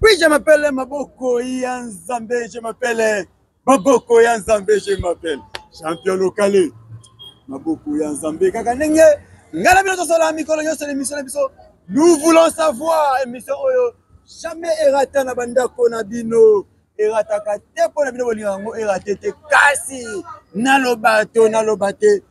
Oui, je m'appelle Maboko ya Nzambe, je m'appelle Maboko ya Nzambe, je m'appelle champion locale. Maboko ya Nzambe kaka ndenge ngai na bino tosala mikolo nyonso na émission na biso. Nous voulons savoir émission oyo jamais erata na bandako na bino erataka te mpo na bino bolinga yango erate te kasi naloba to naloba te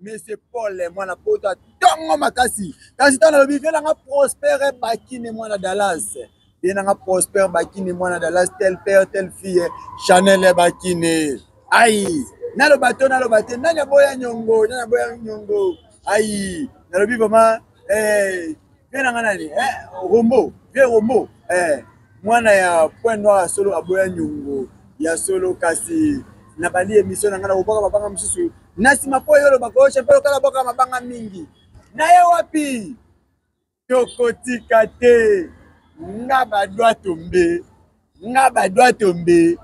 Monsieur Paul mwana poto atongo makasi kasi ntango nalobi vie nanga prospere bakine mwana Dallas vie nanga prospere bakine mwana Dallas tel père tel fille Chanel bakine ai naloba to naloba te nani aboya nyongo nani aboya nyongo ai nalobi vraiment eh, vie na nga nani eh, rombo vie rombo eh, mwana ya point noir ya solo aboya nyongo ya solo kasi na bali emission na nga na kobwaka mabanga mosusu na nsima mpo yo olobaka oyo champion lokala bwaka mabanga mingi na ye wapi tokotika te nga badwa tombe nga badwa tombe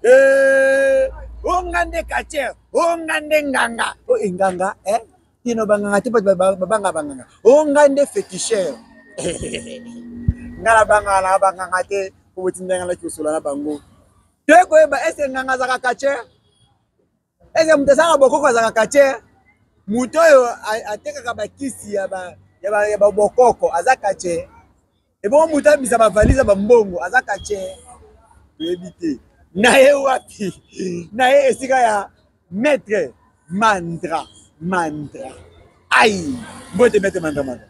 eh, onga nde kacher onga nde nganga o oh, enganga eh? kino banganga te bato babanga banganga o oh, ngai nde fetisher ngai nabangaka na banganga te po botindanga naki kosola na bango to ekoyeba ese nganga azaka kache ese moto azaka bokoko azaka kache moto oyo atekaka bakisi ya bokoko aza kache ebongo moto abimisa bavalise ya bambongo aza kache toyebi te na ye wapi na ye esika ya maître mandra mandra ai mbote maître mandra mandra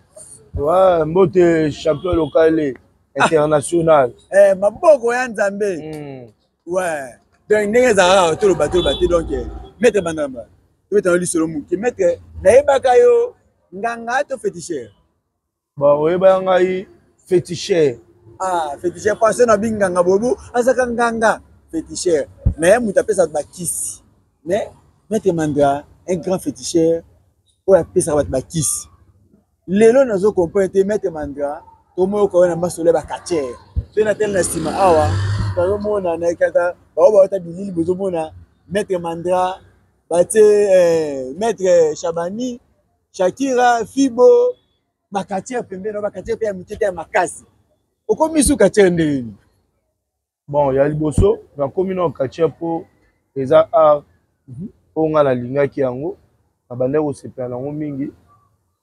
ouais, mbote champion locale ah. international ah. eh, maboko ya nzambe mm. ouais. donc ndenge ezalaka toloba toloba te donc eh, maître mandra mandra tobetana lisolo moke maître nayebaka yo nganga to féticheur ba oyeba ya ngai fetichere ah fetichere parce na binganga bobu azaka nganga fetichere mais moto apesaka bakisi mais maître mandra un grand fetichere oyo apesaka bato bakisi lelo nazo comprendre te maître mandra tomoyoka oyo na masolo ya bakatiere mpe na tele na nsima awa tozomona na ekata bao baota bilili bozomona maître mandra batie eh, maître chabani Shakira, Fibo, bakatiere pembeni, bakatiere mpe ya mike te ya makasi. Okomi su katiere ndenge nini? Bon, ya liboso nakomi na katiere mpo eza art mhm. oyo ngai nalingaki yango, nabandaki kosepela na yango mingi.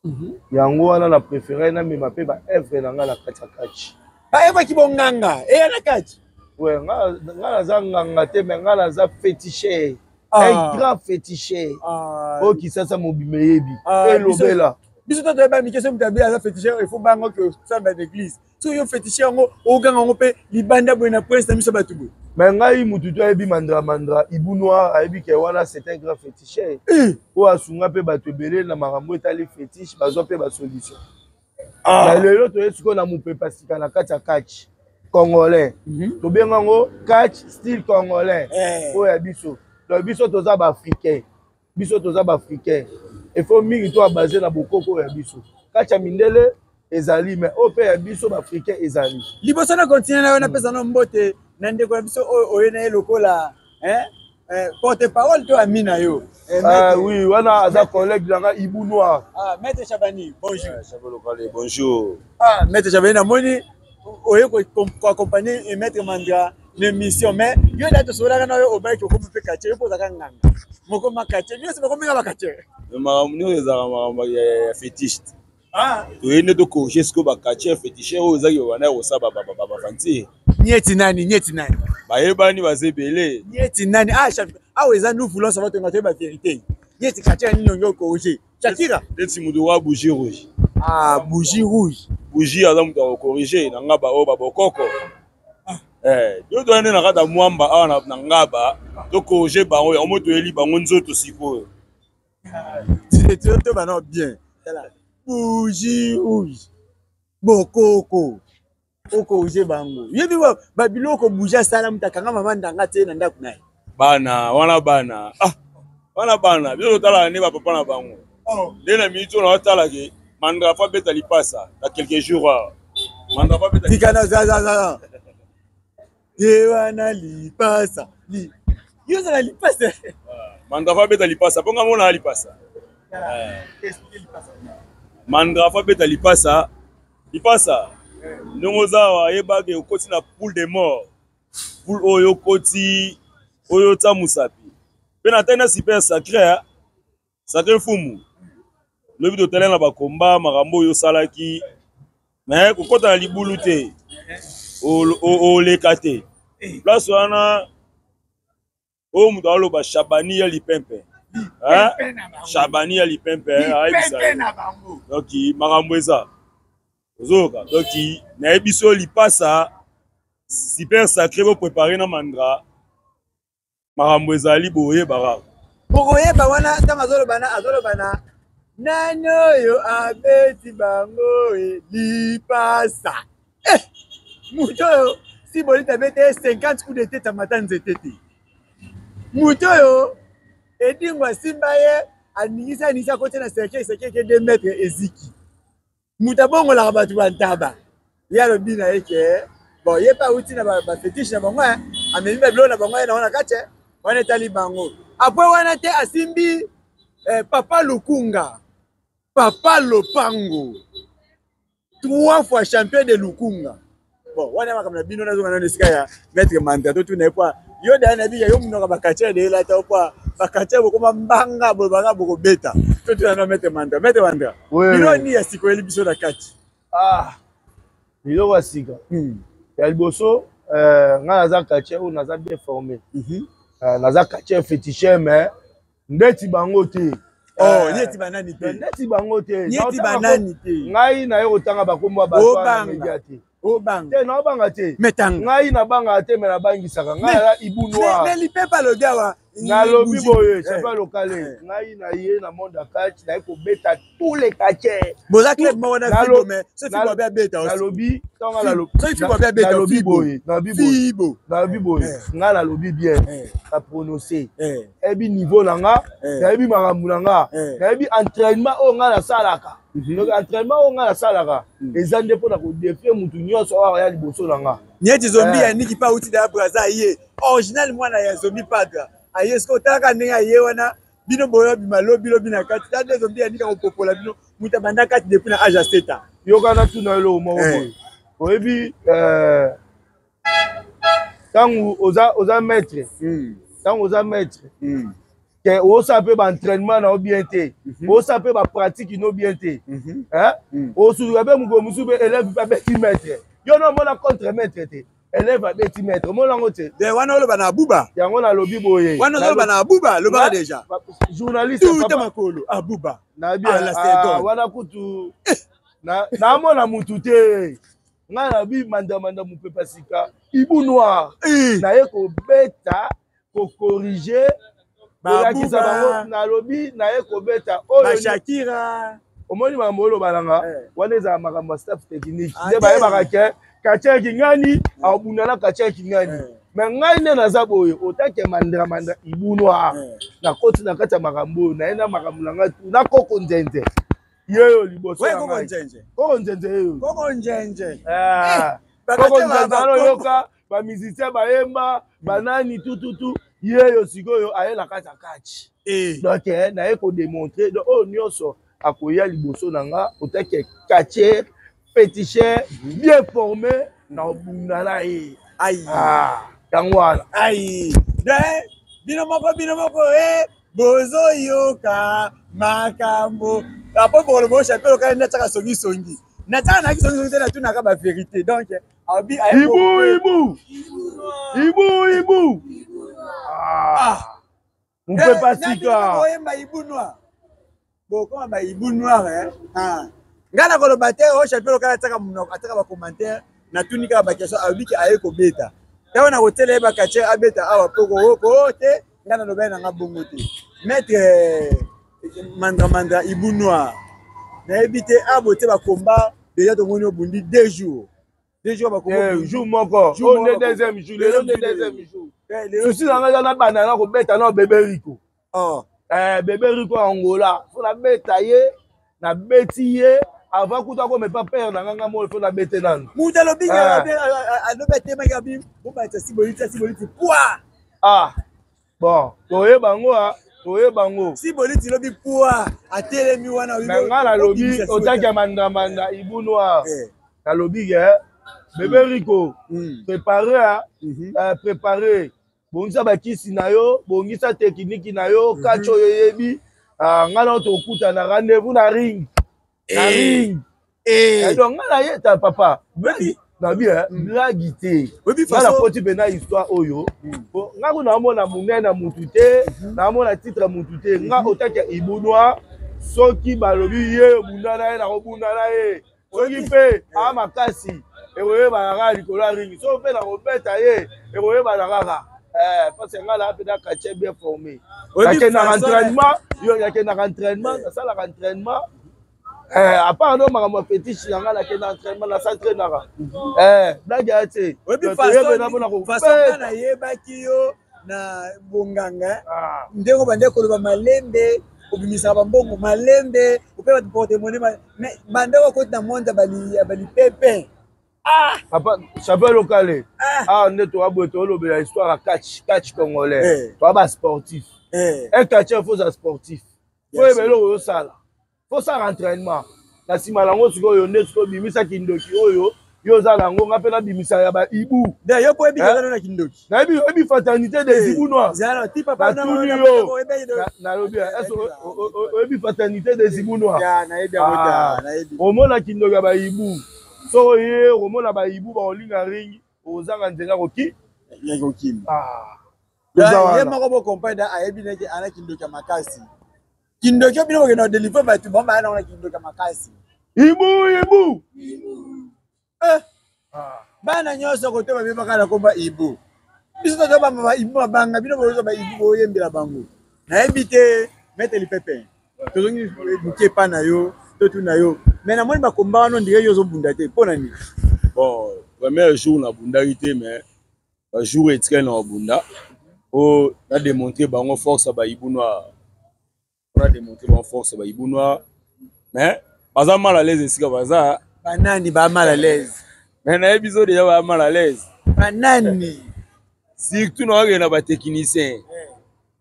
Mhm. yango wana na préféré namema mpe baevre na ngai na kati ya kati baevre kibonganga eya na kati nga naza nganga te me ngai naza féticheur ah. un grand féticheur ah. oyo kisasa mobima eyebi ah, elobela biso to toyeba mike soki moto abeli aza féticheur il faut bango ke osamba na église soki yo féticheur yango oganga yango mpe libanda boye na prince na biso bato boye me ngai motu to ayebi mandra mandra ibu noir ayebi ke wana c'est un grand féticheur eh. oyo asunga mpe bato ebele na makambo etali fétiche bazwa mpe basolution ah. na lelo toye sikoyo na mopepa sika na kati ya catch congolais mhm. tobenga yango catch style congolais eh. oyo ya biso donc biso toza baafricain biso toza baafricain efo mingi to abase na bokoko oyo ya biso catch ya mindele ezali mais oyo mpe ya biso baafricain ezali liboso na continue na yo napesa no mbote na ndeko na biso oyo oye na ye lokola Eh, porte parole to ami na yo eh, ah, oui wana aza collègue na nga ibu noir ah, maître chabani bonjour eh, chabolokale bonjour ah, maître chabani namoni oye koaccompagne maître mandra na émission mais yo da tosololaka na yo obaki okomi mpe katie yo mpo ozaka nganga mokoma katie nyonso bakomi nga bakatie makambo nyonso ezalaka makambo ya fetiste Ah. toye nde tokorige sikoyo bakatie fetishe oyo ezaki babanda ya kosala bafantie nieti nani nieti nani bayebani baza ebele nieti nani ah, awa eza nous voulons savoir tonga toyeba verité nieti katie nini onge okorige shakira neti moto wa bougie rouge ah bougie rouge bougie aza moto ya kokorige na nga baoyo babokoko ah. eh, yo toya nde na kata mwamba awa na ngaba tokorige bango yango mo toyeli bango nzoto sikoyo Directeur to bana bien. Bougie rouge. Bokoko. Oko uje bango. Yebi ba babiloko bouger sala mutakanga mama ndanga te na ndaku naye. Bana wana bana. Ah. Wana bana bino tala ne ba papa na bango. Oh. Nde na minute na tala ke mandra fa beta lipasa na quelques jours. Ah. Mandra fa beta. Tikana za za za. ye wana lipasa li yo ozala lipasa ah, mandrafa abeta lipasa mpo ngai monaa lipasa eh. mandrafa abeta lipasa lipasa eh. ndenge oza awa yebake okoti na poule de mort poule oyo okoti oyo otya mosapi mpe na tai na super sacre sake mfumu lobi totalela na bakomba makambo oyo osalaki me kokɔta na libulu te oleka te place wana oyo moto aloba shabani ya lipempe shabani ya lipempe ayebisa donc makambo eza ozoyoka donc nayebi so lipasa super sacré boprépare na mandra makambo ezali boyebaka bokoyeba wana ntango azoloba na azoloba na nani oyo abeti bango e lipasa eh, moto oyo si bolita abeti ye 50 coup dete tamata nzete te moto oyo edingo asimba ye aningisa aningisa akoti na serkei serkei ke 2 mètre eziki moto abongolaka bato bantaba ye alobi na ye ke bon ye mpe awuti na bafetiche na bango amemi babilo na bango ye na wana kati wana etali bango apres wana te asimbi eh, papa lukunga papa lopango trois fois champion de lukunga bon wana makambo na bino nazonga nano esika ya maître manta totuna ye mpo yo daya na bika yo monoko bakatya elela ta mpo bakatya bokoma mbanga bolobanga bokobeta totuna no maître manta maître manta bino ni ya sika oyeli biso na kati ah, biloko ya sika hmm. ya liboso eh, ngai naza katye oyo naza bien formé mhm. eh, naza katye fétiche mais ndeti bango te oh, eh, neti banani te neti bango te neti banani te ngai naye kotanga bakombo ya bato wana media te obanga te naobanga te metanga ngai nabangaka te me nabangisaka ngai aza ibu noir me lipepa alobi awa nalobi boye sepa lokale eh. ngai na ye na monde ya kati naye kobeta tous les catcheurs boza club moko na fibo mais ce fibo abe abeta aussi nalobi ntango nga nalobi ce fibo abe abeta nalobi boye nalobi fibo nalobi boye eh. nga nalobi bien eh. na prononce eh. nayebi niveau na nga nayebi makambo na nga nayebi entraînement oyo nga nasalaka mhm. donc entraînement oyo nga nasalaka mhm. eza nde mpo na kodefie motu nyonso oyo aya liboso na nga nyeti zombi ya niki pa uti da braza ye original mwana ya zombi padra aye soki otalaka ndenge aye wana bino boyo bima lobi lobi na kati ta dezo mbi yanika kopopola bino muta banda kati depuis na age aseta yoka na tuna eloko moko eh. boye oyebi eh, ntango oza oza maître ntango hmm. oza maître hmm. ke osala mpe baentrainement na yo bien te mhm. osala mpe bapratique no bien te mhm. osuluka mpe mokolo mosusu mpe elève mpe abeti maître yo nomona contre maître te elève abeti maître omoni yango te de wana oloba na abuba yango nalobi boye wana ozoloba na abuba lobaka deja journaliste tuta makolo abuba ah, wana kutu eh. namona mutu te ngai nabi mandamanda mopepa sika ibu noir eh. naye kobeta kokorige olakisa bango nalobi naye kobeta oyoshakira omoni makambo oloba na nga eh. wana ezala makambo ya staff technique ah, nde bayebaka ke katia kingani eh. akobunda na katia kingani eh. me ngai nde naza boye otake mandramandra ibunwa nakoti na kati ya makambo oyo naye na makambo na ngai tu na koko nzenze yeyo liboso koko nzenze yeyo koko nzenze koko nzenze aloyoka ba musicien bayemba banani tututu yeyo sikoyo aye na kati ya kati eh. donc eh, naye kodemontre donc oyo nyonso akoya liboso na nga otake katier peticher bien forme na obunda na ye ah, yango wana ai bino moko bino moko e bozoyoka makambo apo bokoloba oshapelo kani natiaka songisongi natiaka naki songisongi te natunaka baverité donc Ibu, ibu. Ibu, ibu. Ah. Mpe ah. pasika. Oyemba ibu noir. Bokoma ba ibu noir eh. Ah. Ngai nakoloba te o oh, chapeau lokala ataka munoko ataka ba commentaire natuni kaka ba question alobi ke aye kobeta. Ntango nakotela ye ba catcher abeta awa mpo kooko te. nga nalobela na nga bongo te maître eh, mandra mandra ibu noir nayebi te abo ah, te bakomba deja tomoni obundi deux jours deux jours bakomba eh, jour moko jour nde deuxième jour lelo nde deuxième jour eh, souci na nga eza nabanda na kobeta na bebe riko oh. bebe riko ya angola fo nabeta ye Na beti ye avant kuta ko mepa père na nganga mo faut na bete nanu. Mutu alobi nga ah. alobi atema nga bi bo ba tsi boli tsi boli ti poa. Ah. Bon, toye bango a ah. toye bango. Si boli ti lobi poa atelemi wana wi. Na nga na lobi otaki ya manda manda ibu noir. Eh. Na lobi ke eh, bebe mm. Rico mm. préparer à mm-hmm. euh, préparer bongisa bakisi na yo bongisa tekiniki na yo mhm. kaci oyo eyebi ah, ngai nao tokutana rendez-vous na ring na eh. ring eh. Eh, donc ngai nayeta papa nabi mm. blagi te ngai nakoti mpena histoire oyo mm. po ngai kuna namona monene na mutu te mhm. namona titre mutu te ngai mhm. otaki ya ibunwa soki balobi ye obunda na ye nakobunda na ye soki mpe a makasi ekoyebana kaka likolo ya ringi soki mpe nakobeta ye ekoyebana kaka eh, parce ngai naa mpe nakatie bien formé nakendaka entraînement yo nakendaka entraînement nasalaka entraînement Eh, à part no makambo ya fetiche na ngai nakenda entraînement na s'entraînaka mhm. eh, blage ya te toyebena mpona koyebaki yo na bonganga ah. ndenge obandaki koloba malembe obimisaka bambongo malembe ope bato portemone mais banda okoti na monde ya balipepe ah! papa chapeau lokale ah. awa nde towa boye tolobela histoire ya catch catch congolais eh. towa basportif eh. un catcheur faut za sportif oyo ebele oyo osala tosala entraînement na nsima nango sikoyo nde sikoyo bimisa kindoki oyo yo oza na yango nga mpe nabimisa ya baibu yo mpo oyebi kozana na kindoki nayebi oyebi fraternité des eh, ibunois natuni yo nalobi oyebi fraternité des ibunois ah, omona kindoki ya baibu soki oye okomona baibu bakolinga ringi okozanga nzela koki kokima ah, ye moko bocompagne ayebi neke ana kindoki ya makasi kindoki bino bokenda kodelivre bato bango baya nango na kindoki ya makasi ibu ibu eh. ah. bana nyonso kote babebaka na komba ibu biso toza bamba baibu babanga bino boyoka baibu boyembela bango nayebi te mete lipepe tozongi moke epa na yo totuna yo mai namoni bakomba wana ondire yo ozobunda te mpo na nini bon premier jour nabundaki te mais bajour etikali na babunda mpo nademontre bango force ya bayibu noir mpo nademontre bango force ya bayibu noir mais baza mal à l'aise esika baza banani ba mal à l'aise mais nayebi biso deja ba mal à l'aise banani surtout na bakende na batechnicien eh.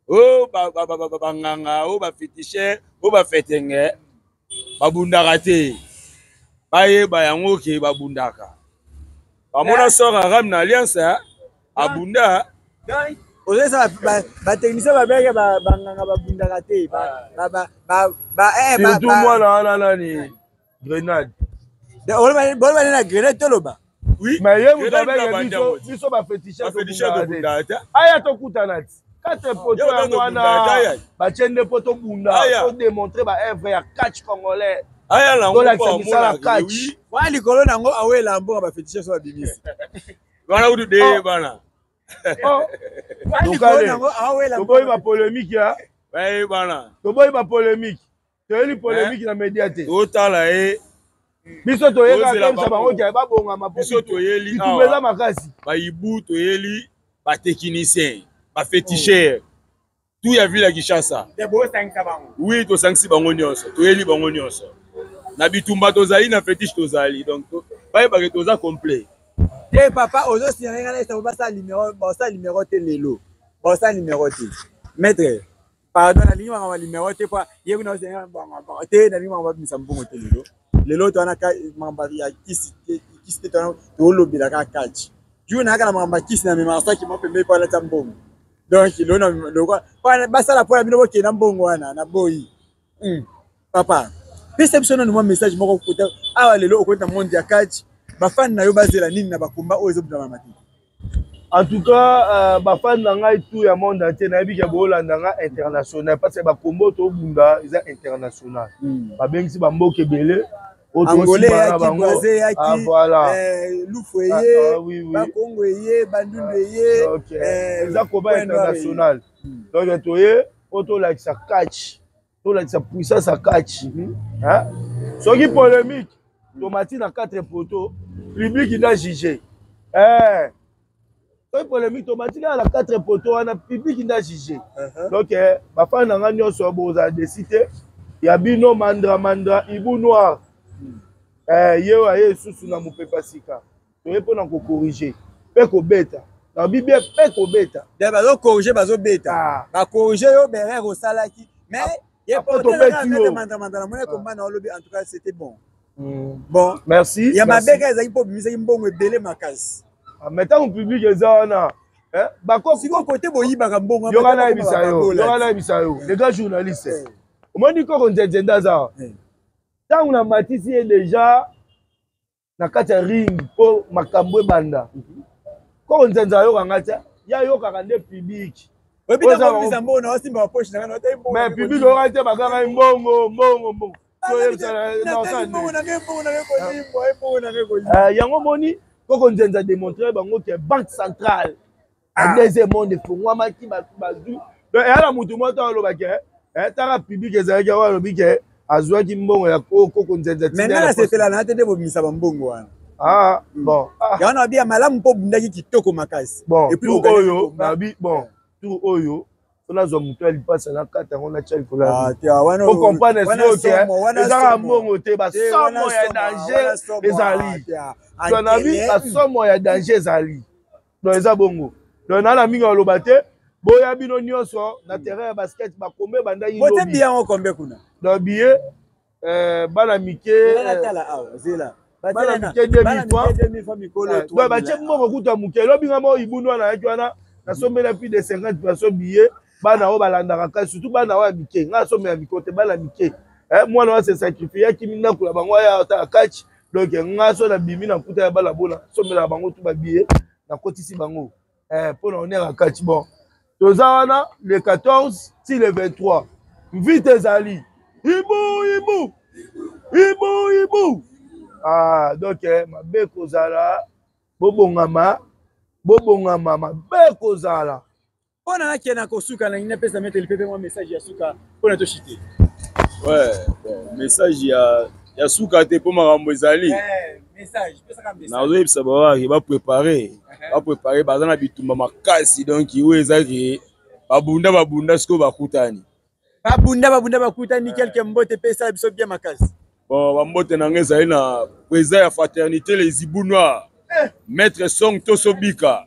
o oh, banganga o oh, bafetichin o oh, bafetenge babundaka te bayeba yango ke babundaka bamona eh. sora ram na alliance eh. abunda ozesa batechnicien babenge banganga babundaka te surtout mwana wana nani grenade bolobani na grenade toloba Oui. Mais ye mutu abenge biso biso ba fetisha tobunda te. Aya tokutana ti. Kate poto yango wana batie nde po tobunda to démontrer ba œuvre ya catch congolais. Aya na ngo ba mona catch. Wa likolo na ngo awela mbongo ba fetisha so babimisi. Bana kutu de oh. bana. Oh. Wa likolo na ngo awela. Toboyi ba polemique ya. Baye bana. Toboyi ba polemique. toyeli polemique na media te otala ye biso toyekakemisa bango ke babongama biso toyeli awa eza makasi bayibu toyeli batechnicien bafeticher oh. tout ya ville ya kinshasa oui tosangisi bango nyonso toyeli bango nyonso na bitumba tozali na fetiche tozali donc bayebake toza complet te papa ozosinga ngai na esango basala limero basala limero te lelo basala limero te maître pardon nalingi maka ba numero te po ye kuna osenga bongo bongo te nalingi maka babimisa mbongo te lelo lelo to wana makambo ya kisi te kisi te twana tolobela kaka kaci juu nayaka na makambo ya kisi na memaka saki mwa pembei po alata mbongo donc lelo na lokola basala mpo na bino bokenda mbongo wana na boyi hmm. papa pesa biso nanu mwa message moko kota awa lelo okoti na monde ya catch bafani na yo bazela nini na bakomba oyo ezobutama mate en tout cas euh, bafani na ngai tout ya monde entier nayebi ke boolanda ngai international parce que bakombo tobunda eza international hmm. babengisi bamboka ebele angolais eyaki boise eyaki ah, voilà. eh, lufu eye ah, ah, oui, oui. bakongo eye bandundu ah, eye okay. eh, eza combat international hmm. donc toye mpo tolakisa catch tolakisa puissance ya kachi soki polemique tomati na 4 poto public na juge eh. soki polemique tomati kaka na 4 poto wana public na juge uh-huh. donc eh, bafani na nga nyonso bozala desi te ya bino mandra mandra ibu noir hmm. eh, ye oyo aye lisusu na mopepa sika toye mpo na kokorige mpe kobeta na bibia mpe kobeta de bazokorige bazobeta ah. bakorige yo berere osalaki mais ah, ye potobetimandamanda na mona komba na olobi en tout cas c'était bon hmm. bon merci ya mabeka ezalaki mpo obimisaki mbongo ebele makasi ah, mais ntango public eza wana eh, bakosiko kote boyibaka mbongo yoka nayebisa yo yoka nayebisa yo le grand journaliste eh. omoni koko nzenzendaza eh. ntango na matisi ye deja na kati ya ring mpo makambo ebanda mhm. koko nzanza ayoka ngai te ye ayokaka nde pibiki mais pibiki oyoka te baka ngai mbongo mbongo mbongo yango moni koko nzenza démontre bango ke banque centrale ah. deuxième monde efungwamaki bato bazwi eya na motu moko ntango alobaki etaka eh, eh, publike ezalaki yango alobi ke azwaki mbongo ya koko nzenza maintenant nasepela na te nde bobimisa bambongo wana ah, hmm. bon ah. yango nabi ya malamu mpo obundaki kitoko makasi bon tour oyo nabi bon tour oyo so nazwa moto ya lipasa nakata yango natya likolo yaocomprendre ah, soki ezaka mbongo te basomo ya danger ezali nabi basomo ya danger ezali donc eza bongo donc nana mingi aloba te boya bino nyonso na terrain ya basket bakombe bandaki bote biye yango kombe kuna donc biye euh, bana mike euh, bana mike demi fois donc batie mbongo kuta moke elobi nga moko ibunu wana ayaki wana nasombeli ya plus de 50 perso biye bana oyo balandaka kai surtout bana oyo ya mike ngai asome ya miko te bana mike eh, mwana oyo asesakrifie akimi ndako na bango aya atala kachi donk ngai so nabimi na mputa ya bana bona somelaka bango tu babiye nakotisi bango eh, mpo na onera kachi bon toza wana le 14 ti le 23 mvite ezali ibu ibu ibu ibu ah, donk eh, mabe kozala bobongama bobongama mabe kozala mpo na nakende na kosuka na ngi napesa metele pepe mwa message ya suka mpo na toshite ouais, bon, message ya, ya suka te mpo makambo ezali eh, nazoyebisa bawaki baprepare eh. baprepare baza na bitumba makasi donk oyo ezaki babunda babunda sikoyo bakutani babunda babunda bakutani kelke mbote epesa biso bia makasi bon bambote na ngai ezali na président ya fraternité les ibu noir eh. maître song tosobika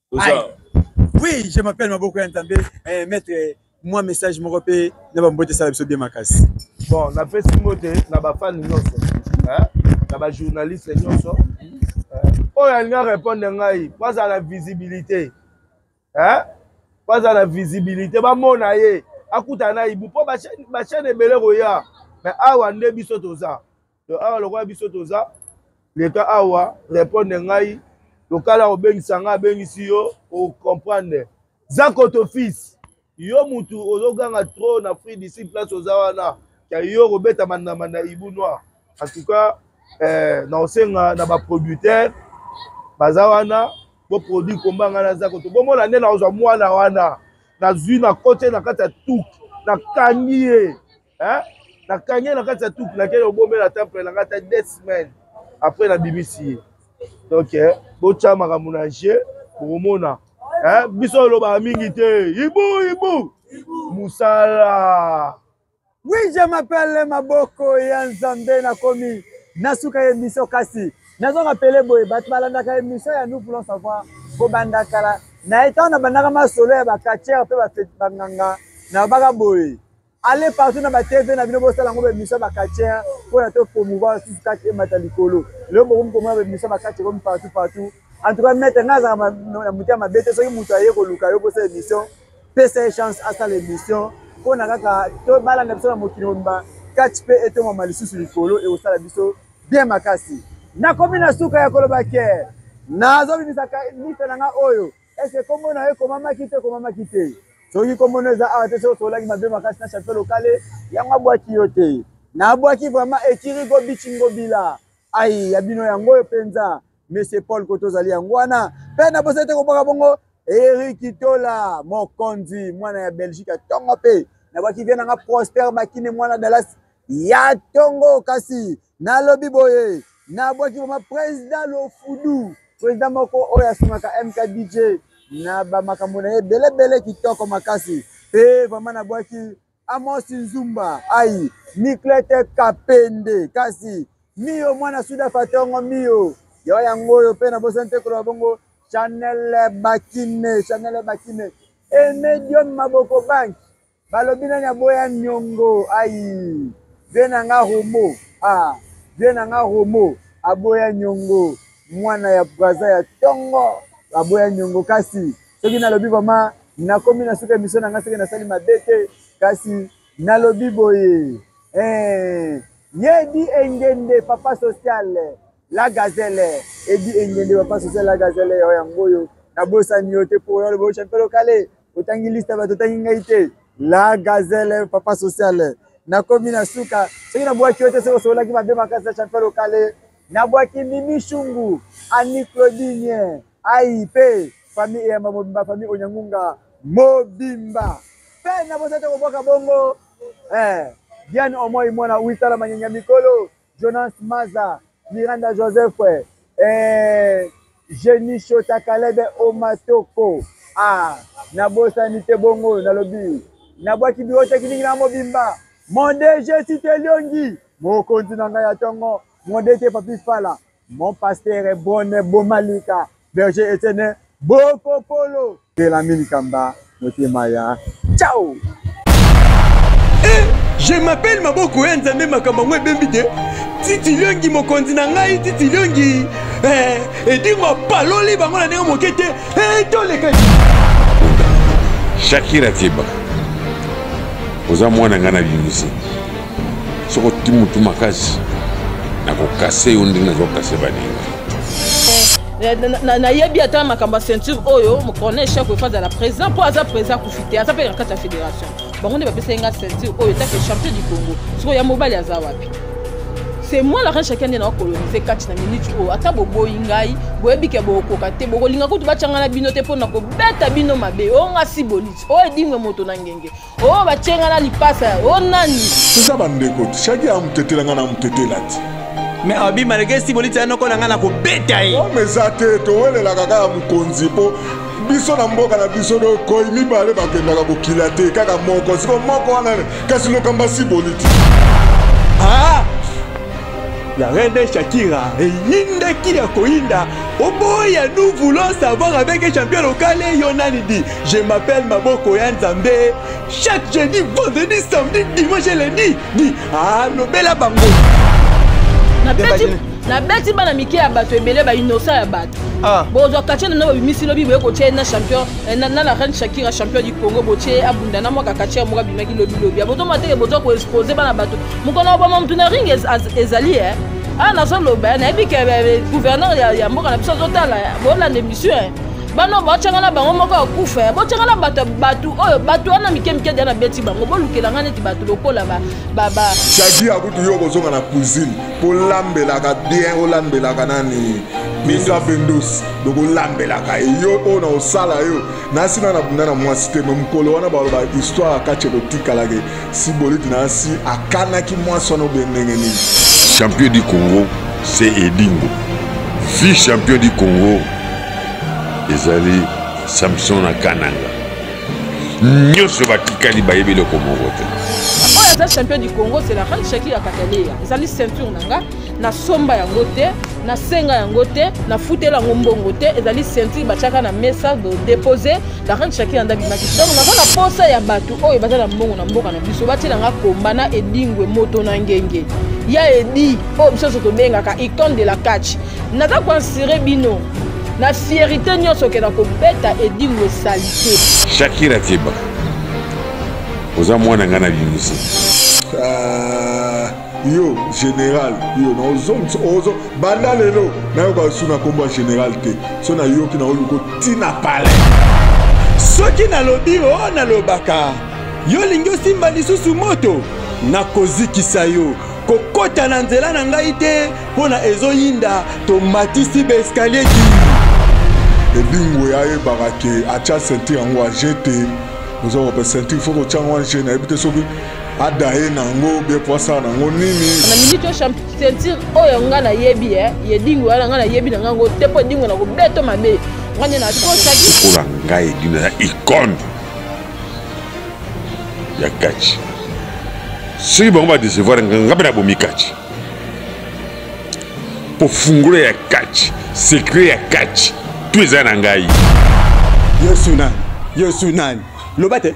oui je m'appelle maboko ya nzambe eh, maître mwa message moko mpe na bambote esala biso bie makasi bon napesi mbote na bafani nyonso na bajournaliste nyonso oyo alingi arépondre ngai po aza na visibilité po aza na visibilité bamona ye akutana na ibu mpo bachaine ebele koya mais awa nde biso toza donc awa lokola biso toza leka awa repondre ngai lokala kobengisa ngai abengisi yo ocomprendre zakoto fils yo mutu ozoganga trop na free d'ici place oza wana ya yo okobeta mandama na ibu noir en tout cas eh, naosenga na baproducteur baza wana boproduit komba ngai naza koto bomona nde nakozwa mwana wana nazwi na kote na kati ya tuki nakangi ye hein na kanye na kati ya tuku na kende obomela temple na kati ya deux semaines après na bimisi ye donc eh, botya makambo na jeu bokomona eh, biso olobaka mingi te ibu ibu mosala oui je m'appelle maboko ya nzambe nakomi nasuka ye biso kasi nazonga pele boye bato balandaka emission ya nous voulons savoir kobanda kala na ye ntango nabandaka masolo ya bakacher mpe banganga nabaka boye Allez partout na ba TV na bino bosala ngo ba mission ba katien pour la to promouvoir sous kati emata likolo. Leo bokomi komona ba mission ba katien comme partout partout. En tout cas maître nga za na mutia mabete soki mutu aye ko luka yo bosala mission. Pesa chance asala mission. Pour na kaka to bala na biso na mokili mba catch pe etoma malisusu likolo et osala biso bien makasi. Nakomi na suka ya koloba ke nazobimisa liste na nga oyo Eske kombo na yo ekomamaki to ekomamaki te? Soki kombo na yo eza awa te, soki osololaki mabe makasi na Chateau Lokale, yango abwaki yo te. Nabwaki vraiment ekiri gobi chingobila. Ai, ya bino yango oyo mpenza. Monsieur Paul koto ozali yango wana. Mpe nabosani te kobwaka bongo Eric Tola, mokonzi, mwana ya Belgique, atongo mpe nabwaki vie na nga Prosper Bakine, mwana Dallas, ya tongo kasi nalobi boye nabwaki vraimen président lofudu président moko oyo asungaka mkdj na bamakambo na ye ebelebele kitoko makasi mpe vraimen nabwaki amosi nzumba ai niklete kapende kasi miyo mwana suda fatongo miyo yawa yango oyo mpe nabosani te koloba bongo chanel bakine chanel bakine emedium maboko banki Balobi nani aboya niongo ayi vie na nga romo ah vie na nga romo aboya niongo mwana ya braza ya tongo aboya niongo kasi soki nalobi vraiment nakomi na suka emission na nga soki nasali mabe te kasi nalobi boye eh yedi engende papa sociale La gazelle edi engende papa sosa la gazelle yao yango oyo nabosani yo te mpo oyo aloba ochampe lokale otangi liste bato otangi ngai te la gazelle papa sociale nakomi na suka soki nabwaki yo te soki osololaki mabe makasi ya champion lokale nabwaki mimi shungu ani claudine aipe eh, famille eyamba mobimba famille onyangunga mobimba mpe nabosani te kobwaka bongo eh, diane omoi mwana uitala manyanya mikolo Jonas Maza, Miranda Joseph, eh, Jenny Shota Kalebe Omatoko. Ah, nabosani te bongo nalobi. Nabwaki biota kilingi na mobimba. Mon DG Siteliongi, mokonzi na ngai ya tongo, mon DG Papi Fala. Mon pasteur bonne bomalika berger Etienne boko polo de la milikamba motema ya ciao eh, je m'appelle maboko ya nzambe makambo yango ebembi te titi liongi mokonzi na ngai titi liongi eh, edingo apaloli bango na ndenge moke te eh, toleka shakira tieba oza mwana ngai na bimisi soki oti motu makasi nakokase yo ndenge nazokase baninga nayebi ata makambo ya ceinture oyo mocorne echec oyo fazala président mpo aza président akufi te aza mpe na kati ya fédération bango nde bapesaki nga ceinture oyo etake champion du congo sikoyo ya mobali aza wapi c'est moi la reine chacun nde nakolonise kati na minute oyo ata boboyi ngai boyebi ke bokokoka te bokolinga kutu batyanga na bino te mpo na kobeta bino mabe oyo nga si boliti oyo edingwe moto na ngenge oyo batye ngai na lipasa o nani toza bandeko shaki amutetela ngai na mutetela te me abi malgré esi boliti yanoko na ngai na kobeta ye ome eza te towelelaka kaka mokonzi mpo biso na mboka na biso dokoi mibale bakendaka kokila te kaka moko siko moko wana kasi lokamba si boliti ah! la reine Shakira eyindaki ya koyinda oboya nous voulons savoir avec champion locale yo nani di Je m'appelle Maboko ya Nzambe. Chaque jeudi, vendredi, samedi, dimanche et lundi. Dit, ah, lobela bango. Na beti, na beti bana mike ya bato ebele ba innocent ya bato. Ah. Bozwa kache na bimisi lobi boye kotie na champion eh, na la reine Shakira champion du Congo botie abunda na mwaka kache ya moko bimaki lobi lobi. Bozo mateke bozo ko exposer bana bato. Mukona obama mtu na ring ezali eh. Ah nazoloba eh, nayebi ke eh, gouverneur ya mboka na biso azotala eh, bolanda emission eh. bana botyanga na bango moko ya kufa ya botyanga na bato bato oyo bato wana mike mike dia nabeti bango bolukela ngai neti bato lokola jadi ya kutu yo okozonga na cuisine kolambelaka bien olambelaka nani misa bendos donc olambelaka ye yo oyo na osala yo nasi na nabunda na mwasi te me mokolo wana baloba histoire ya kati ekotikalake si boliti nasi akanaki mwasi wana obe ndenge nini champion du congo se edingo vi champion du congo ezali samson na kananga nyonso batikali bayebi eloko moko te oyo aza champion du congo c'est la reine shaki ya kataleya ezali ceinture na nga nasomba yango te nasenga yango te nafutela yango mbongo te ezali ceinture batiaka na mesa depose la reine shaki anda bimaki donc naza na posa ya bato oyo baza na mbongo na mboka na biso batiela nga komba na edingwe moto na ngenge ya edi oyo biso nyonso tobengaka icone de la catch naza koansire bino na fierité nyonso oke na kobeta edingo esalite shakira keba oza mwana ngai nabimisi ah, yo général yo naozongisa ozo banda lelo nayoka lisusu na nkombo ya général te so nayoki naoluka ntina pale soki nalobi o oh, nalobaka yo olingi osimba lisusu moto nakozikisa yo kokota na nzela na ngai te Pona ezo yinda to matisi ba escalier ki. Edingo ya yebaka ke acha ceinture yango ajete oza kope ceinture faut kotia yango ajene ayebi te soki adaye nango bie po asala nango nini na minute oyo ceinture oyo nga nayebi eh, ye dingo yana nga nayebi na ngango te mpo dingo na kobeto mabe nga nde nakosaki lokola ngai edina na icone ya kaci soki bango badecevoir nga mpe nabomi kaci mpo fungola ya kati sekre ya kati to eza na ngai yesu nani yesu nani loba te